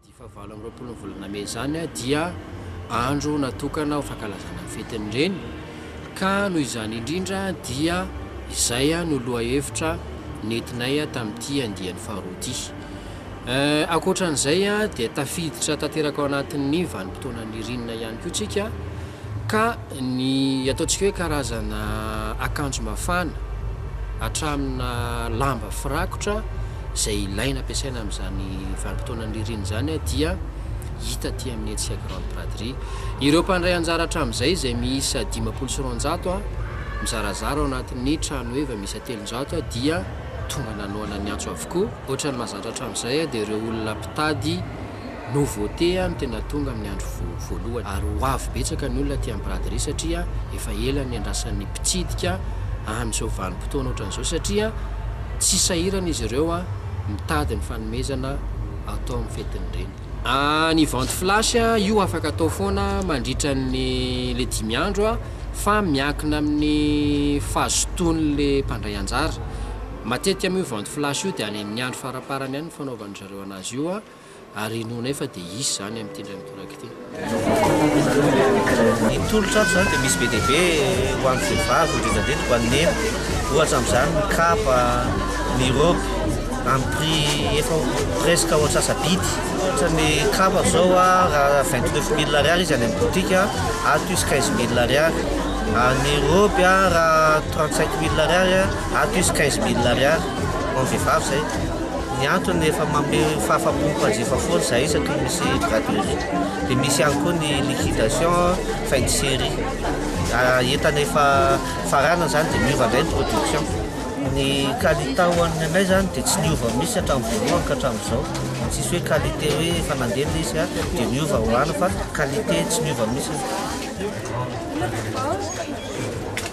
Ity fahavalo amby roapolon'ny volana mey izany dia andro natokana ho fankalazana ny fetin'ny Reny ka noho izany indrindra dia izay no lohahevitra nentinay tamin'ity andiany faharoa ity. Eh, ankoatran'izay dia tafiditra tanteraka ao anatin'ny vanim-potoana nirinina ihany koa tsika ka ny ataontsika hoe karazana akanjo mafana hatramina lamba firakotra izay ilaina ampiasaina amin'izany vanim-potoana nirinina izany dia hita aty amin'ny hetsika grande braderie. Ireo mpandray anjara hatramin'izay izay miisa dimampolo sy roanjato mizarazara ao anatin'ny tranoheva miisa telonjato dia. Tonga nanohana ny antso avokoa. Ohatra ny mahazatra hatramin'izay dia ireo olona mpitady no vote no tena tonga amin'ny andro voalohany. Ary ho avy betsaka ny olona aty amin'ny braderie satria efa ela no niandrasan'ny mpitsidika an'izao vanim-potoana ohatran'izao satria tsy sahirana izy ireo mitady ny fanomezana atao amin'ny fetin'ny reny. Ahh ny vente flash io afaka atao foana mandritra ny le dimy andro a fa miankina amin'ny fahazotoany le mpandray anjara matetika moa io vente flash io de any amin'ny andro faraparany any ny fanaovan-dry zareo anazy io a ary inoanay fa de hisy zany amin'ity indray mitoraka ity. Ny tolotra ato izany dia misy be dia be ho an'ny vehivavy indrindradrindra ho an'ny neniko, ohatra amin'izany ny kapa, ny robe amin'ny prix efa presque ho antsasa-bidy, ohatra ny kapa izao raha vingt neuf mille ariary izy any amin'ny boutique, ato izy quinze mille ariary, ary ny robe raha trente cinq mille ariary, ato izy quinze mille ariary. Ho an'ny vehivavy izay. Ny antony efa manome fahafahampo mpanjifa foana izahay isaky ny misy brad de nuit. Dia misy ihany koa ny liquidation fin de série. Entana efa faranana izany dia miova indray ny production. Ny qualité ho an'ny anay izany dia tsy niova mihitsy hatramin'ny voalohany ka hatramin'izao. Tsisy hoe qualité hoe efa nandeha ilay izy dia niova ho lany fa qualité tsy niova mihitsy.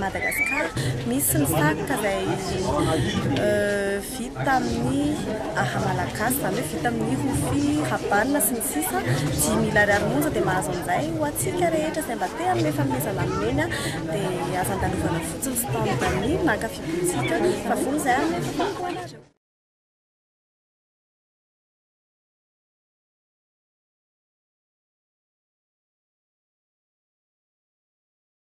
Madagascar misy ny satroka izay vita amin'ny aha malagasy izany hoe vita amin'ny rofia habana sy ny sisa dimy mila ariary monja dia mahazo an'izay ho antsika rehetra izay mba te hanome fanomezana amin'eny dia aza andalovana fotsiny stand any maka fibontsika fa vonona izahay hanome tombotsoa ho anareo